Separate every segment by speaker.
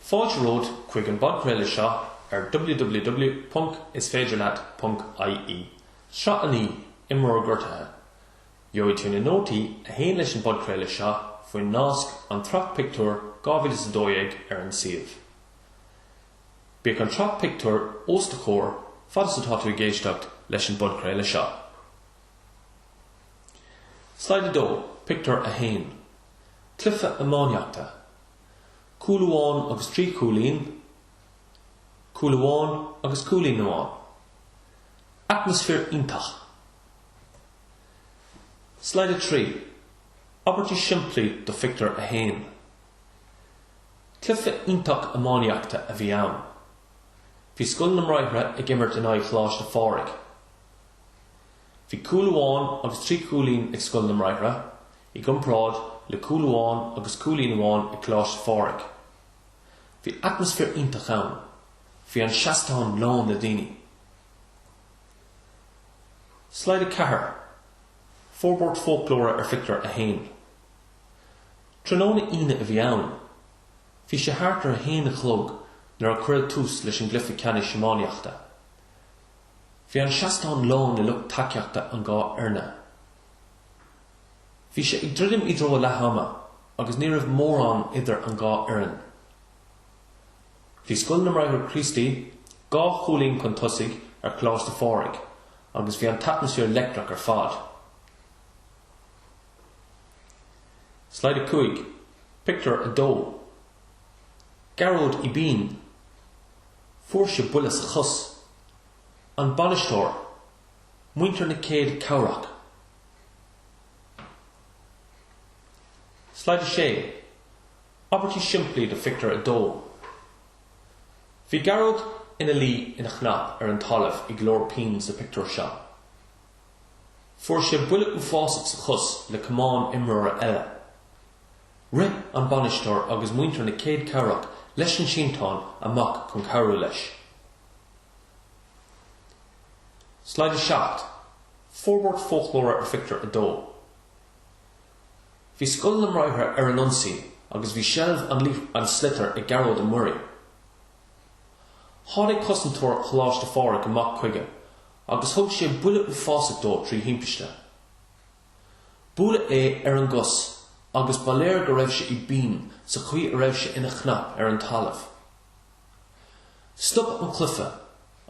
Speaker 1: Fáilte romhat chuig an bpodchraoladh seo ar www.isféidirleat.ie. Sraith a naoi, imreoir gortaithe. Gheobhaidh tú na nótaí a théann leis an bpodchraoladh seo faoin nasc An tSraith Pictiúr 2012 ar an suíomh. Bíodh an tsraith pictiúr os do chomhair fad is atá tú ag éisteacht leis an bpodchraoladh seo. Slide 2, Pictiúr 1. Cluiche Iománaíochta, Cúl amháin agus trí chúilín, Cúl amháin agus cúilín amháin. Atmaisféar iontach. Slide 3, Abairtí simplí do Phictiúr 1 Cluiche iontach iománaíochta a bhí ann. Bhí Scoil na mBráithre ag imirt in aghaidh Choláiste Phádraig. Bhí cúl amháin agus trí chúilín ag Scoil na mBráithre, i gcomparáid le cúl amháin agus cúilín amháin ag Coláiste Phádraig. Bhí atmaisféar iontach ann. Bhí an seastán lán le daoine. Slide 4, Forbairt Foclóra ar Phictiúr 1 Tráthnóna Aoine a bhí ann. Bhí sé thart ar a haon a chlog nuair a cuireadh tús leis an gcluiche ceannais iománaíochta. Bhí an seastán lán le lucht tacaíochta an dhá fhoirne. Bhí sé ag druidim i dtreo leath ama agus ní raibh mórán idir an dhá fhoireann. Bhí Scoil na mBráithre Críostaí dhá chúilín chun tosaigh ar Choláiste Phádraig agus bhí an t-atmaisféar leictreach ar fad. Slide 5, Pictiúr 2. Gearóid i bpian. Fuair sé buille sa chos. An bainisteoir, muintir na céad cabhrach. Slide 6, Abairtí simplí do Phictiúr 2. Bhí Gearóid ina luí ina chnap ar an talamh i gclár pian sa phictiúr seo. Fuair sé buille uafásach sa chos le camán imreora eile. Rith an bainisteoir agus muintir na céad cabhrach leis an sínteán amach chun cabhrú leis. Slide 7, Forbairt foclóra ar phictiúr 2. Bhí scoil na mBráithre ar an ionsaí agus bhí seilbh an sliotar ag Gearóid Ó Muirí. Tháinig cosantóir Choláiste Phádraig amach chuige agus thug sé buille uafásach dó trí thimpiste. Buaileadh é ar an gcos agus ba léir go raibh sé i bpian sa chaoi a raibh sé ina chnap ar an talamh. Stop an cluife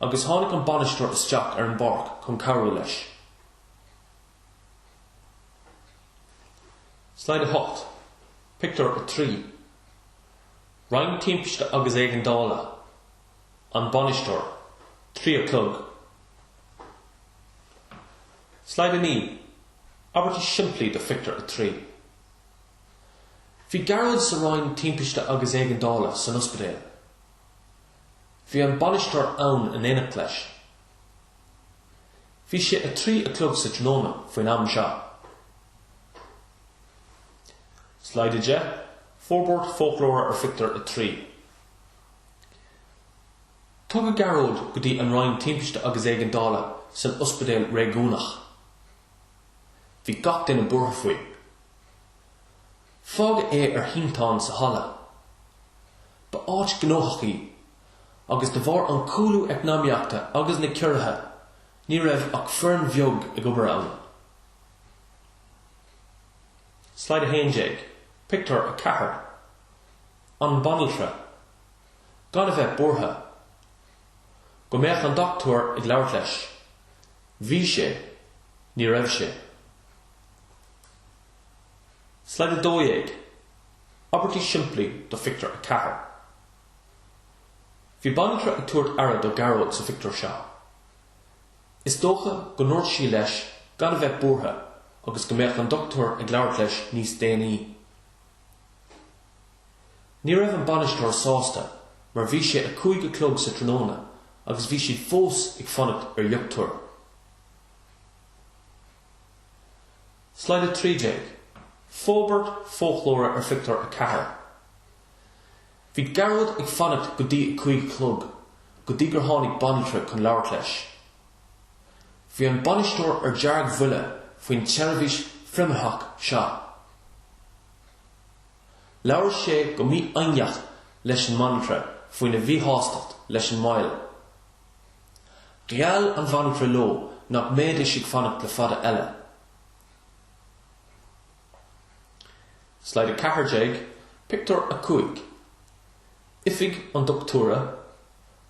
Speaker 1: agus tháinig an bainisteoir isteach ar an bpáirc chun cabhrú leis. Slide 8, Pictiúr 3 Roinn timpiste agus éigeandála, An bainisteoir, 3 a chlog. Slide 9, Abairtí simplí do Phictiúr 3. Bhí Gearóid sa Roinn Timpiste agus Éigeandála san ospidéal. Bhí an bainisteoir ann in éineacht leis. Bhí sé 3 a chlog sa tráthnóna faoin am seo. Slide 10, Forbairt foclóra ar Phictiúr 3. Tugadh Gearóid go dtí an Roinn Timpiste agus Éigeandála san Ospidéal Réigiúnach. Bhí gach duine buartha faoi. Fágadh é ar shínteán sa halla. Ba áit ghnóthach í agus de bharr an cúlú eacnamaíochta agus na ciorruithe ní raibh ach foireann bheag ag obair ann. Slide 11, Pictiúr 4 An banaltra. gan a bheith buartha go mbeadh an dochtúir ag labhairt leis. Bhí sé. Ní raibh sé. Slide 12, Abairtí simplí do Phictiúr 4 Bhí banaltra ag tabhairt aire do Ghearóid sa phictiúr seo. Is dócha go ndúirt sí leis gan a bheith buartha agus go mbeadh an dochtúir ag labhairt leis níos déanaí. Ní raibh an bainisteoir sásta mar bhí sé a cúig a chlog sa tráthnóna agus bhí siad fós ag fanacht ar dhochtúir. Slide 13, Forbairt foclóra ar Phictiúr a Ceathair. Bhí Gearóid ag fanacht go dtí a cúig a chlog go dtí gur tháinig banaltra chun labhairt leis. Bhí an bainisteoir ar deargbhuile faoin tseirbhís phrimearthach seo. Labhair sé go mífhoighneach leis an mbanaltra faoina mhíshástacht leis an moill. Gheall an bhanaltra leo nach mbeidís ag fanacht le fada eile. Slide 14, Pictiúr 5 Oifig an doctúra,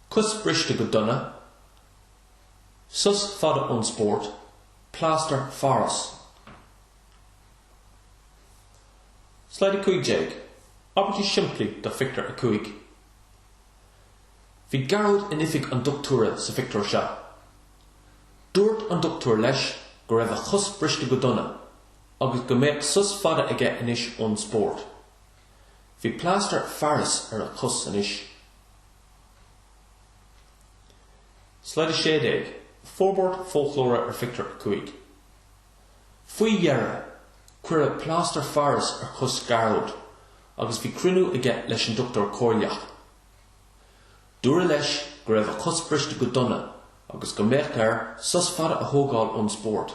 Speaker 1: cos briste go dona, sos fada ón spórt, plástar Pháras. Slide 15, Abairtí simplí do Phictiúr 5 Bhí Gearóid in oifig an dochtúra sa phictiúr seo. Dúirt an dochtúir leis go raibh a chos briste go dona agus go mbeadh sos fada aige anois ón spórt. Bhí plástar Pháras ar a chos anois. Slide 16, Forbairt foclóra ar Phictiúr 5. Faoi dheireadh, cuireadh plástar Pháras ar chos Gearóid agus bhí cruinniú aige leis an dochtúir comhairleach. Dúradh leis go raibh a chos briste go dona agus go mbeadh air sos fada a thógáil ón spórt.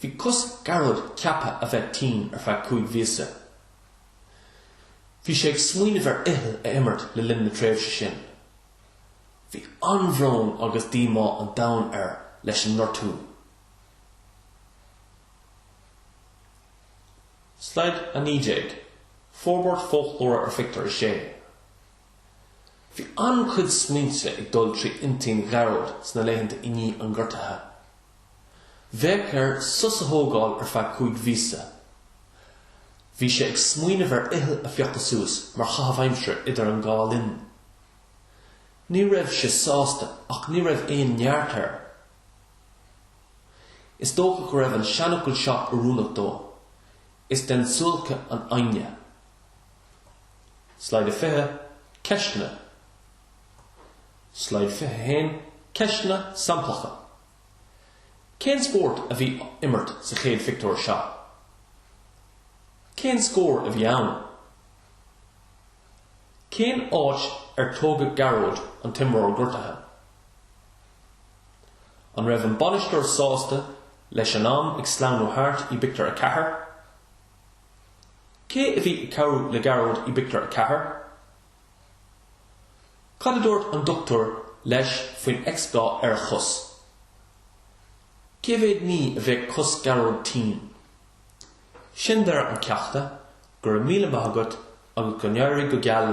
Speaker 1: Bhí cos Ghearóid ceaptha a bheith tinn ar feadh cúig mhíosa. Bhí sé ag smaoineamh ar fhicheall a imirt le linn na tréimhse sin. Bhí an-bhrón agus díomá an domhain air leis an ngortú. Slide 19, Forbairt foclóra ar Phictiúr 6. Bhí an-chuid smaointe ag dul trí intinn Ghearóid sna laethanta i ndiaidh an ghortaithe. Bheadh air sos a thógáil ar feadh cúig mhíosa. Bhí sé ag smaoineamh ar fhicheall a phiocadh suas mar chaitheamh aimsire idir an dhá linn. Ní raibh sé sásta ach ní raibh aon neart air. Is dócha go raibh an seanfhocal seo oiriúnach dó, Is den tsuáilce an fhoighne. Slide 20, Ceisteanna. Slide 21, Ceisteanna samplacha, Cén spórt a bhí á imirt sa chéad phictiúr seo? Cén scór a bhí ann? Cén áit ar tógadh Gearóid, an t-imreoir gortaithe? An raibh an bainisteoir sásta leis an am ag sleamhnú thart i bpictiúr a ceathair? Cé a bhí ag cabhrú le Gearóid i bpictiúr a ceathair? Cad a dúirt an dochtúir leis faoin x-gha ar a chos? Cé mhéad mí a bheadh cos Gearóid tinn? Sin deireadh an ceachta, go raibh míle maith agat agus go n-éirí go geal leat.